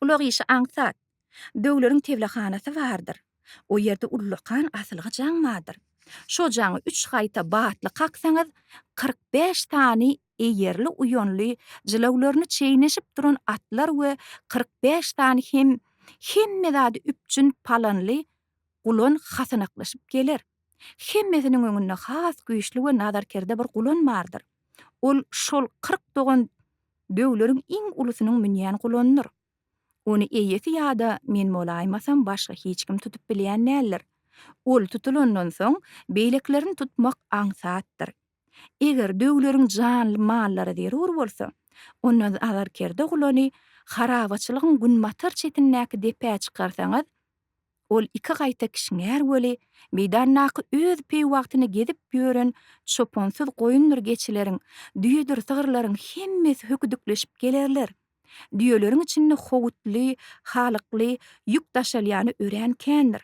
Ulag işi aňsat. Döwleriň teblehanasy bardyr. O ýerde ullakan asylgy jaň bardyr. Şo jaňy üç gaýta batly kaksaňyz, kyrk bäş sany eýerli uýanly jylawlaryny çeýneşip duran atlar we kyrk bäş sany hem hemme zady üpjün palanly gulan hasanaklaşyp geler. Hemmesiniň öňünde has güýçli we nazarkerde bir gulan bardyr. Ol şol kyrk dogan döwleriň iň ulusynyň münýän gulandyr. Ony eýesi ýa-da men bolaýmasam başga hiç kim tutup bilýän däldir. Ol tutulandan soň beýlekilerini tutmak aňsatdyr. Eger döwleriň janly mallary zerur bolsa, onda azarkerde gulany harabaçylygyň günbatar çetindäki depä çykarsaňyz, ol iki gaýta kişňär weli, meýdandaky öz peýwagtyny gezip ýören çopansyz goýundyr geçileriň, düýedir sygyrlaryň hemmesi höküdikleşip gelerler. Düýeleriň içinde howutly, halykly ýük daşalýany örän kändir.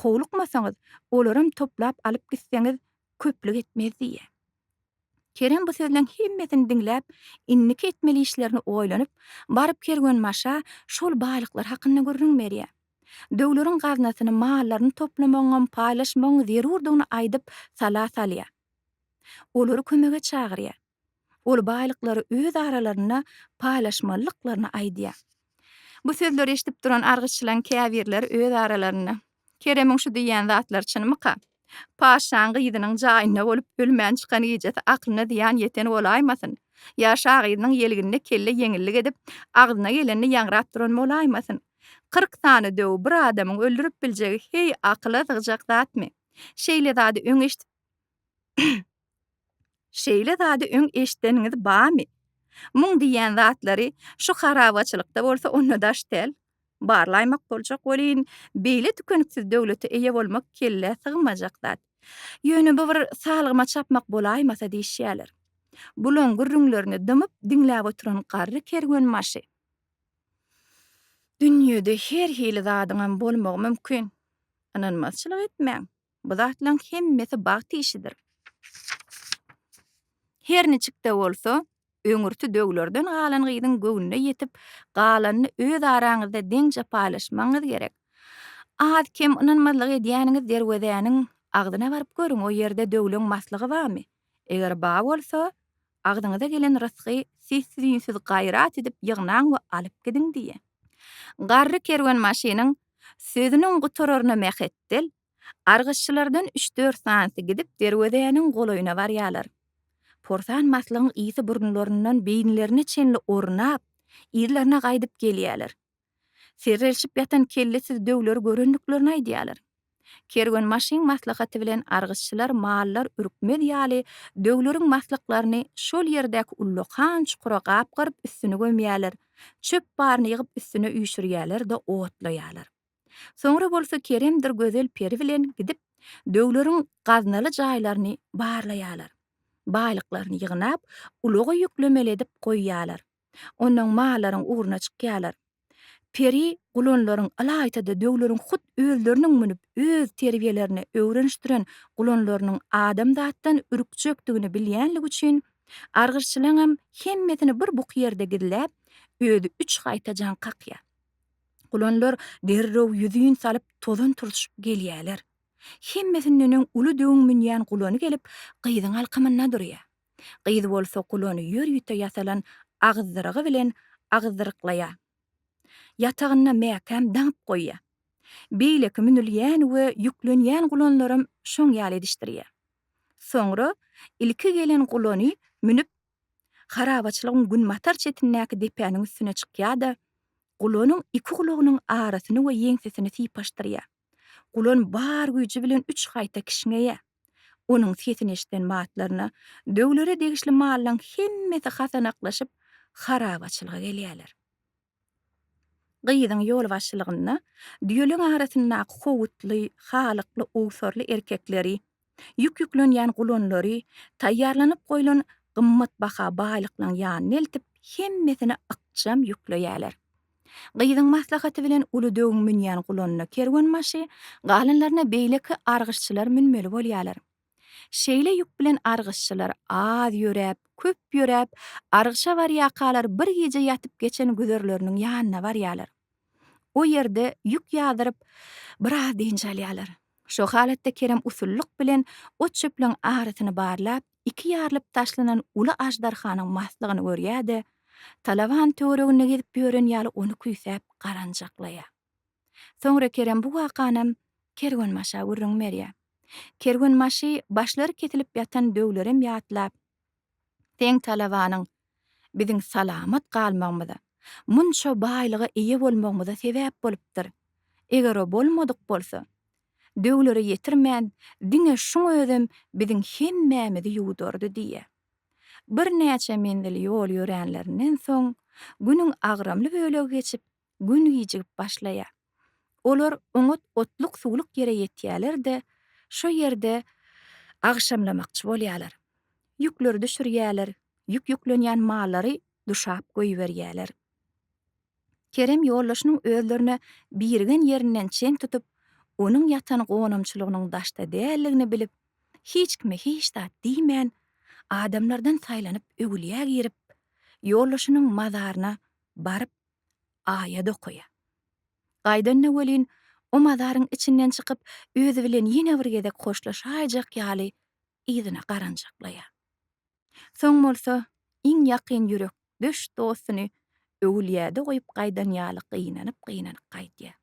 Howlukmasaňyz, olaram toplap alyp gitseňiz köplük etmez diýýär. Kerem bu sözleň hemmesini diňläp, indiki etmeli işlerini oýlanyp, baryp kerwenbaşa şol baýlyklar hakynda gürrüň berýär. Döwleriň gaznasyny, mallaryny toplamagyňam, paýlaşmagyň zerurdygyny aýdyp, sala salýar. Olary kömege çagyrýar. Ol baýlyklary öz aralarynda paýlaşmalydyklaryny aýdýar. Bu sözleri eşidip duran argyçylaryň käbirleri öz aralarynda, Keremiň şu diýýän zatlary çynmyka? Paşşaň gyzynyň jaýynda bolup ölmän çykan gijesi aklyna zyýan ýeten bolaýmasyn? Ýa şa gyzynyň ýelginine kelle ýeňillik edip, agzyna gelenini ýaňrap duran bolaýmasyn? Kyrk sany döw bir adamyň öldürip biljegi heý akyla sygjak zatmy? Şeýle zady öň eşidip Şeýle zady öň eşideniňiz bamy? Muň diýýän zatlary şu harabaçylykda bolsa onda daş däl. Barlaýmak boljak welin, beýle tükeniksiz döwlete eýe bolmak kellä sygmajak zat. Ýöne bu bir salgyma çapmak bolaýmasa diýişýärler. Bulaň gürrüňlerini dymyp diňläp oturan garry kerwenbaşy. Dünýede her hili zadyňam bolmagy mümkin. Ynanmazçylyk etmäň. Bu zatlaň hemmesi bagt işidir. Her niçik-de bolsa, öňürti döwlerden galan gyzyň göwnüne ýetip, galanyny öz araňyzda deňje paýlaşmagyňyz gerek. Az-kem ynanmazlyk edýäniňiz derwezäniň agzyna baryp görüň, o ýerde döwleň maslygy barmy? Eger bar bolsa, Agzyňyza gelen rysgy sessiz-üýnsüz gaýrat edip ýygnaň we alyp gidiň diýýä. Garry kerwenbaşynyň sözüniň gutararyna Mähetdel, Argyşçylardan üç-dört sanysy gidip derwezäniň golaýyna barýarlar. Porsan maslygyň ysy burunlaryndan beýinlerine çenli ornap, yzlaryna gaýdyp gelýärler. Serrelşip ýatan kellesiz döwleri görendiklerini aýdýarlar. Kerwenbaşyň maslahaty bilen argyşçylar mallar ürkmez ýaly döwleriň maslyklaryny şol ýerdäki ullakan çukura gapgaryp üstüni gömýärler, çöp baryny ýygyp üstüne üýşürýärler-de otlaýarlar. Soňra bolsa Keremdir gözel peri bilen gidip döwleriň gaznaly jaýlaryny barlaýarlar. Baýlyklaryny ýygnap, ulaga ýüklemeli edip goýýarlar. ondan mallaryň ugruna çykýarlar. Peri gulanlaryň ylaýta-da döwleriň hut özleriniň münüp öz terbiýelerine öwrenişdiren gulanlarynyň adam zatdan ürkjekdigini bilýänligi üçin, argyşçylaňam hemmesini bir buky ýerde gizläp, özi üç gaýta jaň kakýar. Gulanlar derrew ýüzin salyp tozan turşup gelýärler. Hemmesindenem uly döwüň münýän gulany gelip, gyzyň alkymynda durýar. Gyz bolsa gulany ýörite ýasalan agyzdyrygy bilen agyzdyryklaýar. Ýatagynda mäkäm daňyp goýýar. Beýleki münülýän we ýüklenýän gulanlaram şoň ýaly edişdirýär. Soňra ilki gelen gulany münüp, harabaçylygyň günbatar çetindäki depäniň üstüne çykýar-da, gulanyň iki gulagynyň arasyny we ýeňsesini sypaşdyrýar. Gulan bar güýji bilen üç gaýta kişňeýä. Onuň sesini eşiden batlaryna döwlere degişli mallaň hemmesi hasanaklaşyp, harabaçylyga gelýärler. Gyzyň ýolbaşçylygynda düýeleriň arasyndaky howutly, halykly, owsarly erkekleri, Ýük ýüklenýän gulunlary taýýarlanyp goýlan gymmatbaha baýlyklaryň ýanyna eltip, hemmesine ykjam ýükleýärler. Gyzyň maslahaty bilen uly döwüň münýän gulanyna kerwenbaşy, galanlaryna beýleki argyşçylar münmeli bolýarlar. Şeýle ýük bilen argyşçylar az ýöräp, köp ýöräp, argyşa barýakalar bir gije ýatyp geçen güzerleriniň ýanyna barýarlar. O ýerde ýük ýazyryp, biraz dynç alýarlar. Şo halatda Kerem usullyk bilen ot-çöplügiň arasyny barlap, iki ýarylyp taşlanan uly aždarhanyň maslygyny görýär-de, talaban töwereginde gezip ýören ýaly ony küýsäp garanjaklaýar. Soňra Kerem bu wakanam kerwenbaşa gürrüň berýär. Kerwenbaşy başlary kesilip ýatan döwlerem ýatlap, Seň talabanyň biziň salamat galmagymyza, munça baýlyga eýe bolmagymyza sebäp bolupdyr. Eger o bolmadyk bolsa, döwlere ýetirmän, diňe şuň özem biziň hemmämizi ýuwudardy diýýä. Birnäçe menzil ýol ýöränlerinden soň, günüň agramly bölegi geçip, Gün gijigip başlaýar. Olar oňat otluk-suwluk ýere ýetýärler-de, şo ýerde agşamlamakçy bolýarlar. Ýükleri düşürýärler, ýük ýüklenýän mallary duşap goýberýärler. Kerem ýoldaşynyň özlerine birigen ýerinden çen tutup, onuň ýatan gonamçylygynyň daşda däldigini bilip, hiç kime hiç zat diýmän, adamlardan saýlanyp öwülýä girip, ýoldaşynyň mazaryna baryp aýat okaýa. Gaýdanda welin, o mazaryň içinden çykyp, özi bilen ýene bir gezek hoşlaşaýjak ýaly yzyna garanjaklaýa. Soň bolsa, iň ýakyn ýürekdeş dostuny öwülýäde goýup gaýdan ýaly gynanyp-gynanyp gaýdýa.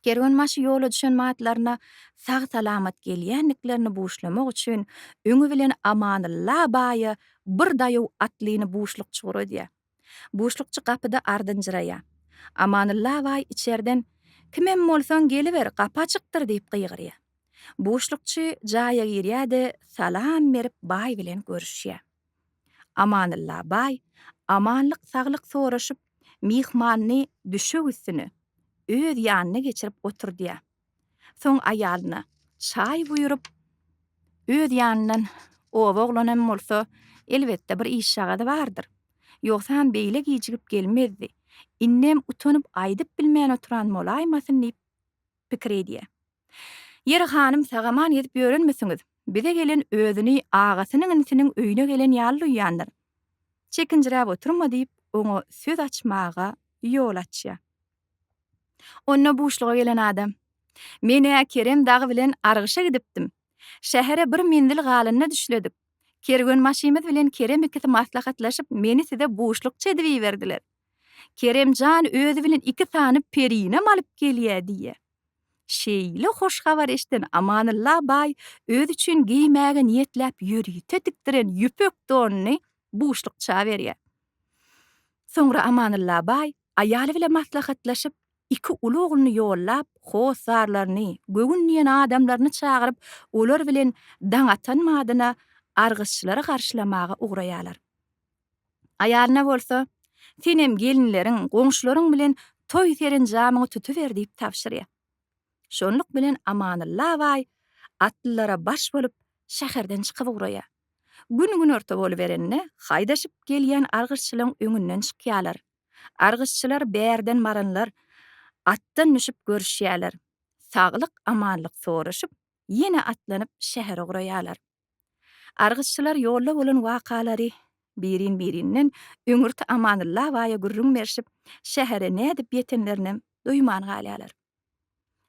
Kerwenbaşy ýola düşen atlaryna sag-salamat gelýändiklerini buşlamak üçin öňi bilen Amanylla baýa bir daýaw atlyny buşlukçy guradýar. Buşlukçy gapyda ardynjyraýar. Amanylla baý içerden Kimem bolsaň geliber, gapy açykdyr diýip gygyrýar. Buşlukçy jaýa girýär-de, salam berip baý bilen görüşýär. Amanylla baý amanlyk-saglyk soraşyp, myhmanyny düşek üstüne öz ýanyna geçirip oturdýar. Soň aýalyna çaý buýrup, öz ýanyndan Oba oglanam bolsa, elbetde, bir işjagazy bardyr. Ýogsam beýle gijigip gelmezdi. Indem utanyp aýdyp bilmän oturan bolaýmasyn diýip, pikir edýä. Ýeri hanym sagaman gezip ýörenmisiňiz, bize gelen özüni agasynyň inisiniň öýüne gelen ýaly duýýandyr. Çekinjiräp oturma diýip oňa söz açmaga ýol açýa. Onda buşluga gelen adam, Men-ä Kerem dagy bilen argyşa gidipdim. Şähere bir menzil galanda düşledik. Kerwenbaşymyz bilen Kerem ikisi maslahatlaşyp meni size buşlukçy edip iberdiler. Kerem jan özi bilen iki sany perinem alyp gelýär diýýär. Şeýle hoş habar eşiden Amanylla baý özi üçin geýmäge niýetläp ýörite tikdiren ýüpek donuny buşlukça berýär. Soňra Amanylla baý aýaly bilen maslahatlaşyp, iki uly ogluny ýollap, hossarlaryny, göwün diýen adamlaryny çagyryp, olar bilen daň atan badyna argyzçylary garşylamaga ugraýarlar. Aýalyna bolsa, Senem gelinleriň, goňşularyň bilen toý-serenjamyňy tutuber diýip tabşyrýar. Şonluk bilen Amanylla baý atlylara baş bolup, şäherden çykyp ugraýar. Gün günorta boluberende, haýdaşyp gelýän argyşçylaryň öňünden çykýarlar. Argyşçylar bärden baranlar atdan düşüp görüşýärler. Saglyk-amanlyk soraşyp, ýene atlanyp şähere ugraýarlar. Argyşçylar ýolda bolan wakalary birin-birinden Öňürti Amanylla baýa gürrüň berşip, şähere nädip ýetenlerinem duýman galýarlar.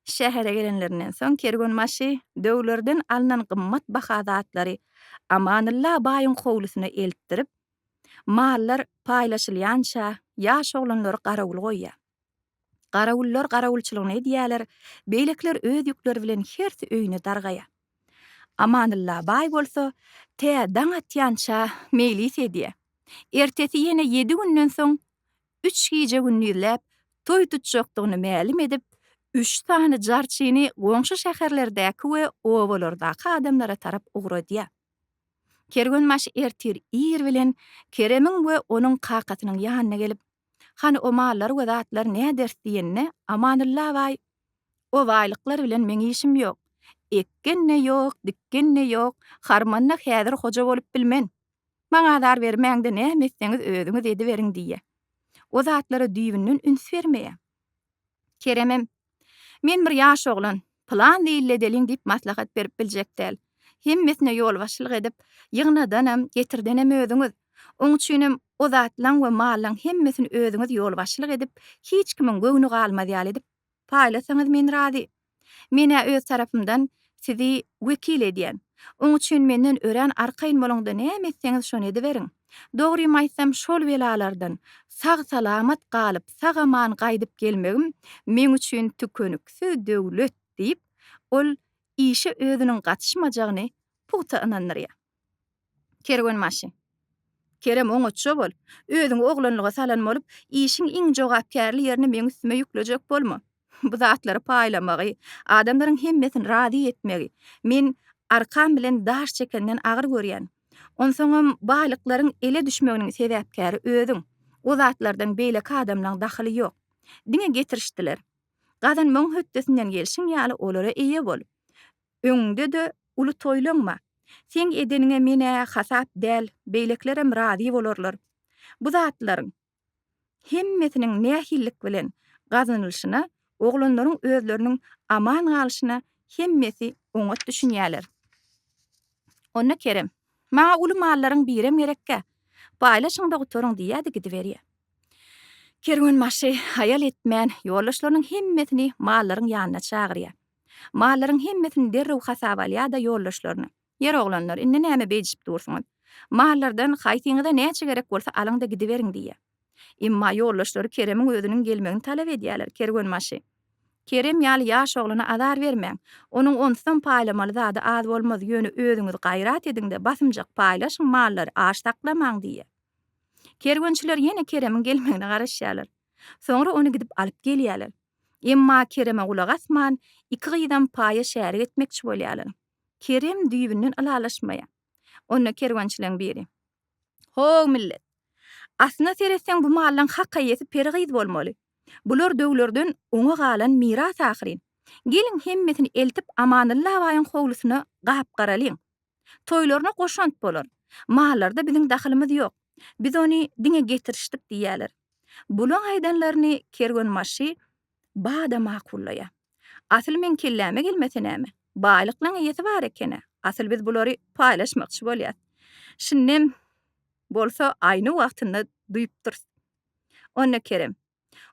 Şähere gelenlerinden soň kerwenbaşy döwlerden alnan gymmat baha zatlary Amanylla baýyň howlusyna eltdirip, mallar paýlaşylýança ýaş oglanlary garawul goýýar. Garawullar garawulçylygyny edýärler, beýlekiler öz ýükleri bilen hersi öýüne dargaýar. Amanylla baý bolsa, tä daň atýança meýlis edýär. Ertesi ýene ýedi günden soň, üç gije-gündizläp toý tutjakdygyny mälim edip, üç sany jarçyny goňşy şäherlerdäki we obalardaky adamlara tarap ugradýar. Kerwenbaşy ertir ir bilen Keremiň we onuň kakasynyň ýanyna gelip, Hany o mallar we zatlar näders diýende, Amanulla baý, O baýlyklar bilen meň işim ýok. Ekgen-de ýok, dikgen-de ýok, harmanda häzir hoja bolup bilmen. Maňa azar bermäň-de näme etseňiz özüňiz ediberiň diýýär. O zatlara düýbünden üns bermeýär. Keremem, Men bir ýaş oglan, pylan zeýilli edeliň diýip maslahat berip biljek däl. Hemmesine ýolbaşçylyk edip, ýygnadanam, getirdenem özüňiz. Oň üçinem o zatlaň we mallaň hemmesini özüňiz ýolbaşçylyk edip, hiç kimiň göwni galmaz ýaly edip paýlasaňyz men razy. Men-ä öz tarapymdan sizi wekil edýän. Oň üçin menden örän arkaýyn boluň-da näme etseňiz şony ediberiň. Dogrymy aýtsam şol belalardan sag-salamat galyp sag-aman gaýdyp gelmegim meň üçin tükeniksiz döwlet diýip, ol işe özüniň gatyşmajagyny pugta ynandyrýar. Kerwenbaşy. Kerem, oňatja bol. Özüňi oglanlyga salan bolup, işiň iň jogapkärli ýerini meň üstüme ýüklejek bolma. Bu zatlary paýlamagy, adamlaryň hemmesini razy etmegi men arkam bilen daş çekenden agyr görýän. Onsoňam baýlyklaryň ele düşmeginiň sebäpkäri özüň. O zatlardan beýleki adamlaň dahyly ýok. Diňe getirişdiler. Gazanmagyň hötdesinden gelşiň ýaly olara eýe bol. Öňüňde-de uly toýlanma. Seň edeniňe men-ä hasap däl, beýlekilerem razy bolarlar. Bu zatlaryň hemmesiniň nähililik bilen gazanylyşyna, oglanlaryň özleriniň aman galyşyna hemmesi oňat düşünýärler. Onda Kerem, Maňa uly mallaryň birem gerekkä. Paýlaşyň-da gutaryň diýýär-de gidiberýär. Kerwenbaşy haýal etmän, ýoldaşlarynyň hemmesini mallaryň ýanyna çagyrýar. Mallaryň hemmesini derrew hasaba al ýa-da ýoldaşlaryny. Ýer oglanlar, indi näme beýdişip dursuňyz? Mallardan haýsyňyza näçe gerek bolsa alyň-da gidiberiň diýýär. Emma ýoldaşlary Keremiň özüniň gelmegini talap edýärler, Kerwenbaşy, Kerem ýaly ýaş oglana azar bermäň. Onuň onsuzam paýlamaly zady az bolmaz, ýöne özüňiz gaýrat ediň-de, basymjak paýlaşyň mallary, aç saklamaň diýýär. Kerwençiler ýene Keremiň gelmegine garaşýarlar. Soňra ony gidip alyp gelýärler. Emma Kereme gulak asman, iki gyzam paýa şärik etmekçi bolýarlar. Kerem düýbünden ylalaşmaýar. Onda kerwençileň biri. Ho-ow millet! Aslyna seretseň bu mallaň hak eýesi peri gyz bolmaly. Bular döwlerden oňa galan miras ahyryn. Geliň hemmesini eltip Amanylla baýyň howlusyna gap-garalyň. Toýlaryna goşant bolar. Mallarda biziň dahylymyz ýok. Biz ony diňe getirişdik diýýärler. Bulaň aýdanlaryny kerwenbaşy bada makullaýar. Asyl meň kelläme gelmese näme? Baýlyklaň eýesi bar eken-ä. Asyl biz bulary paýlaşmakçy bolýas. Şindem bolsa aýny wagtynda duýupdyrys. Onda Kerem.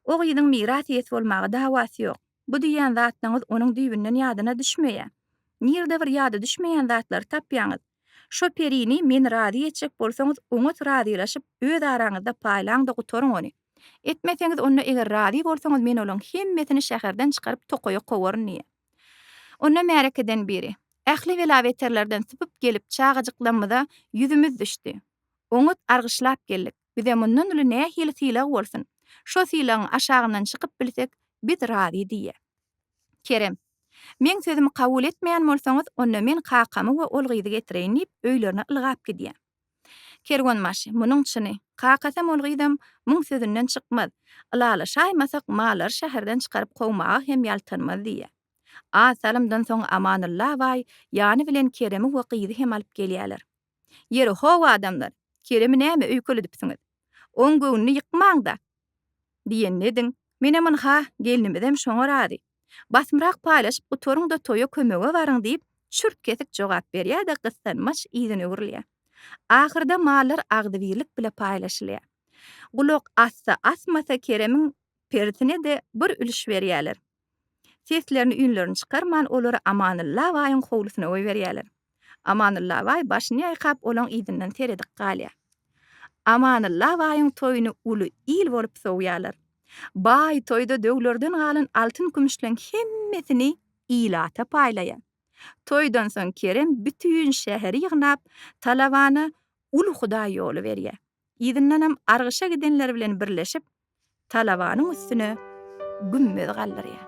O gyzyň miras iýesi bolmaga dawasy ýok. Bu diýýän zatlaryňyz onuň düýbünden ýadyna düşmeýär. Nirde bir ýada düşmeýän zatlary tapýaňyz? Şo perini meni razy etjek bolsaňyz, oňat razylaşyp, öz araňyzda paýlaň-da gutaryň ony. Etmeseňiz, onda eger razy bolsaňyz men olaryň hemmesini şäherden çykaryp tokaýa kowaryn diýýär. Onda märekeden biri, Ähli bela-beterlerden sypyp gelip çagajyklamyza ýüzümiz düşdi. Oňat argyşlap geldik. Bize mundan uly nähili sylag bolsun? Şo sylagyň aşagyndan çykyp bilsek, biz razy diýýä. Kerem. Meň sözümi kabul etmeýän bolsaňyz, onda men kakamy we ol gyzy getireýin diýip, öýlerine ylgap gidýä. Kerwenbaşy. Munuň çyny. Kakasam, ol gyzam muň sözünden çykmaz. Ylalaşaýmasak, mallary şäherden çykaryp kowmaga hem ýaltanmaz diýýä. Az salymdan soň Amanylla baý ýany bilen Keremi we gyzy hem alyp gelýäler. Ýeri, how adamlar, Keremi näme öýkelidipsiňiz? Oň göwnüni ýykmaň-da! diýenini ediň. Menem ynha, gelnimizem şoňa razy. Basymrak paýlaşyp gutaryň-da toýa kömege baryň diýip, çürt-kesik jogap berýär-de gyssanmaç yzyna öwrülýär. Ahyrda mallar agzybirlik bile paýlaşylýar. Gulak assa-asmasa Keremiň persine-de bir ülüş berýärler. Seslerini üýnlerini çykarman olary Amanylla baýyň howlusyna goýberýärler. Amanylla baý başyny ýaýkap olaň yzyndan seredip galýar. Amanylla baýyň toýuny uly il bolup sowýarlar. Baý toýda döwlerden galan altyn-kümüşleň hemmesini ilata paýlaýar. Toýdan soň Kerem bütin şäheri ýygnap talabana uly hudaý ýoly berýär. Yzyndanam argyşa gidenleri bilen birleşip talabanyň üstüne gümmez galdyrýar.